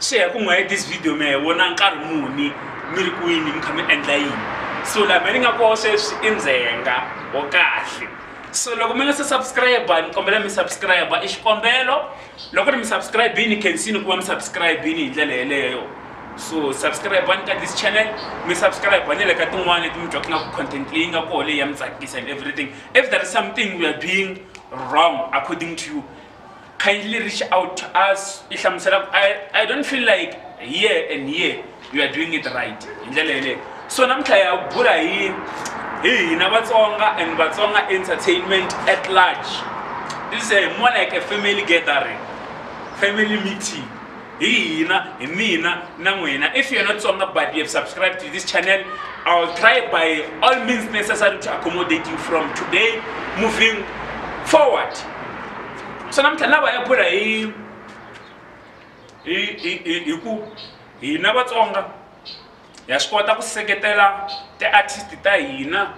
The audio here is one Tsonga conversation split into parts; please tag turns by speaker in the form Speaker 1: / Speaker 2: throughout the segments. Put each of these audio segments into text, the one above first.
Speaker 1: Xi ya ku n'wi hi this video mi ya hi vona nkarhi muni mi ri kwini mi kha mi endla yini so laha mi ni nga koho sweswi i ndzhenga wo kahle so loko mi nga se subscribe ni kombela mi subscribe i xikombelo loko ri mi subscribe-ini khensini ku va mi subscribe-ini hi ndlela yeleyo so subscribe-ani ka this channel mi subscribe ni le ka tin'wana leti mi twaka nga ku content leyi nga koho leyi ya mi tsakisa and everything if there is something we are doing wrong according to you kindly reach out to us i hlamusela ku I, i don't feel like here and here you are doing it right hi ndlela yeleyo so namuntlha ya bula hi hi hina vatsonga and vatsonga entertainment at large this is a more like a family gathering family meeting hi hina hi mina na n'wina if you're not tsonga but you have subscribed to this channel i'll try by all means necessary to accommodate you from today moving forward so namuntlha ni lava ya bula hi hi ku hina vatsonga ha swi kota ku seketela ti-artist ta hina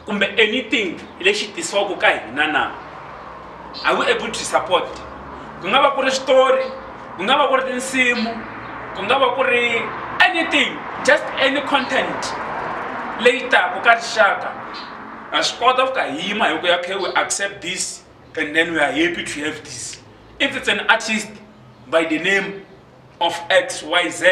Speaker 1: kumbe anything lexi tisiwaka ka hina na are we able to support ku nga va ku ri switori ku nga va ku ri tinsimu ku nga va ku ri anything just any content leyi taka ka rixaka ha swi kota ku ka hi yima hi ku ya khe we accept this and then we are happy to have this if it's an artist by the name of x y z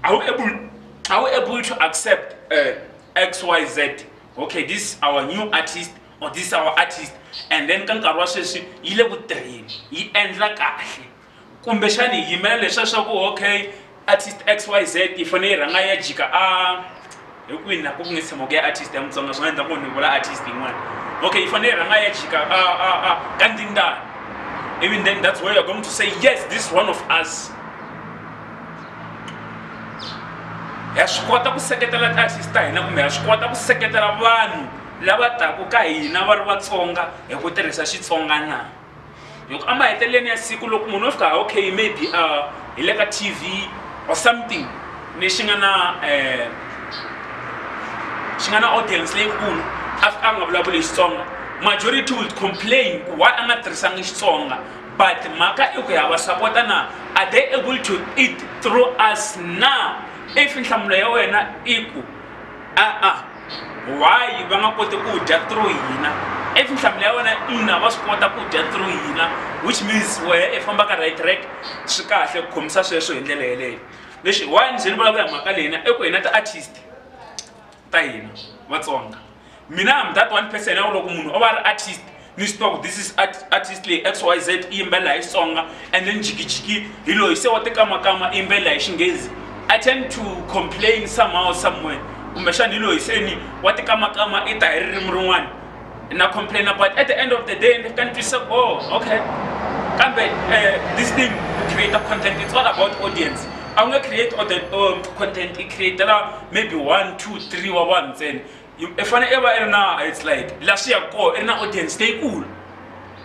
Speaker 1: are you able are you able to accept uh, x y z okay this our new artist or this our artist and then ka nkarhi wa sweswi yi le ku tirheni yi endla kahle kumbexani hi yimela leswa swa ku okay artist x y z yi fanele yi rhanga ya jika a hinkwina ku nga tshama ku ya artist ya mutsonga swi nga endla ku ni vula artist yin'wana okay yi fanele rhanga ya chika a a a ka ndindana even then that's where you're going to say yes this is one of us ha swi kota ku seketela tiartist ta hina kumbe ha swi kota ku seketela vanhu lava taka ka hina va ri vatsonga hi ku tirhisa xitsonga na loko emaheteleleni ya siku loko munhu o fika okay maybe uh, hi le ka tv or something lexi nga na um xi nga na audience leyikulu a fika a nga vulavuli xitsonga majority will complain ku why a nga tirhisangi xitsonga but mhaka i ku ya va sapota na are they able to eat through us na if nhlamulo ya wena i ku a-a why va nga koti ku dya through hina if nhlamulo ya wena ina va swi kota ku dya through hina which means wehe i fambaka right track swi kahle ku khomisa sweswo hi ndlela yeleyo lexi why ni ze ni vulavula hi mhaka leyina i ku hina ti-artist ta hina vatsonga mina am that one person ya ku loko munhu o va ri artist ni swi tiva ku this is artist leyi x y z i yimbelela hi xitsonga and then jikijiki hi loyi se wa tikamakama i yimbelela hi xinghezi i tend to complain somehow somewhere kumbexana hi loyi se ni wa tikamakama i ta hi ririmi rin'wana na complaina but at the end of the day ni fika ni twisisa ku oh okay kambe eh, this thing create a content it's all about audience a wu nge create um, content i createla maybe one two three wa vanhu ntsena i fanele i va i ri na it's like laha swi yaka kona i ri na audience leyikulu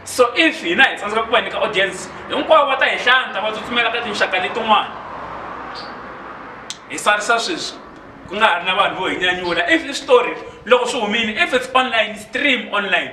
Speaker 1: so if hina hi tsandzeka ku va nyika audience hinkwavo va ta hi hlanta va tsutsumela ka tinxaka letin'wana hi sarisa sweswi ku nga ha ri na vanhu vo hi nyanyula if i switori loko swi humile if it's online stream online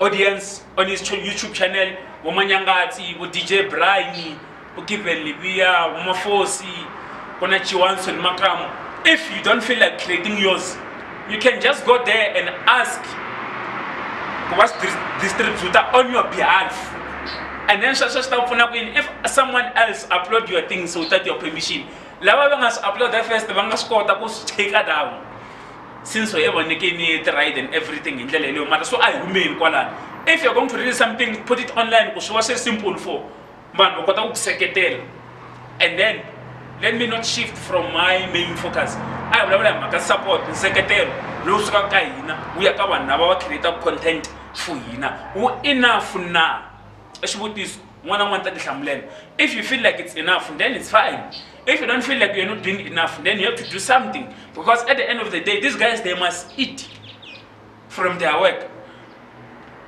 Speaker 1: audience on his youtube channel vomanyangatsi vo dj briny vo given liviya vomafosi ku na chiwanson makamu if you don't feel like creating yours you can just go there and ask ku va swi distributa on your behalf and then sweswo swi ta ku pfuna ku yini if someone else upload your things without your permission lava va nga swi uploada first va nga swi kota ku swi cheka down since we're ever making it right and everything in ndlela yeleyo mara so a hi humeni kwalani if you're going to read something put it online ku swi va swi simple for vanhu va kota ku ku seketela and then let me not shift from my main focus a hi vulavula hi mhaka support nseketelo lowu sukaka ka hina wu ya ka vanhu lava va creataka content for hina wu enough na i xivutiso n'wana n'wana ta tihlamulela if you feel like it's enough then it's fine if you don't feel like you're not doing enough, then you have to do something. Because at the end of the day, these guys, they must eat from their work.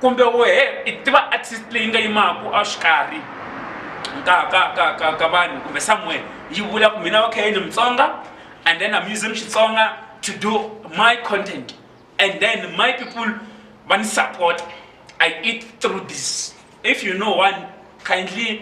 Speaker 1: kumbe wehe i tiva artist leyi nga yimaku a xikarhi ka ka ka ka ka vanhu kumbe somewhere yi vula ku mina okay ni mutsonga and then i'm using xitsonga to do my content and then my people va ni support i eat through this if you know one kindly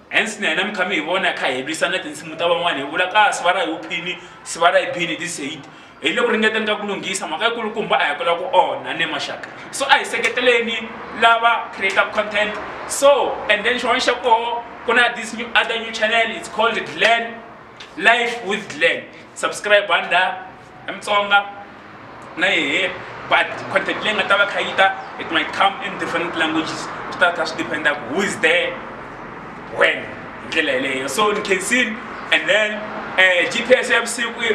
Speaker 1: Hence na hina mi kha mi hi vona hi kha hi lwisana tinsimu ta van'wana hi vula ka siva ra hi uphini siva ra hi bini this hate hi le ku ringeteni ka ku lunghisa mhaka yi kulukumba a hi kula ku onha ne maxaka so a hi seketeleni lava creator content so and then xin'wana xa koho ku na this new other new channel it's called glen life with glen subscribe under Mutsonga na yehe but content leyi nga ta va kha yi ta it might come in different languages swi ta kha swi dependa ku who is there when hi ndlela yeleyo so ni khensin and then um eh, g p s ya vusiku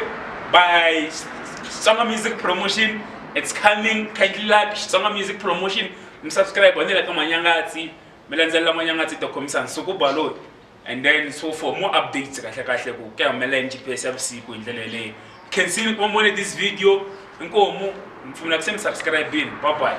Speaker 1: by xitsonga music promotion it's coming kindly like xitsonga music promotion mi subscribe ni le ka manyangatsi mi landzelela manyangatsi to khomisa nsuku baloyi and then so for more updates kahle kahle ku ke humelela yini gps ya vusiku hi ndlela yeleyo khensini ku vone this video inkomu mi pfumela ku se mi subscribini bye bye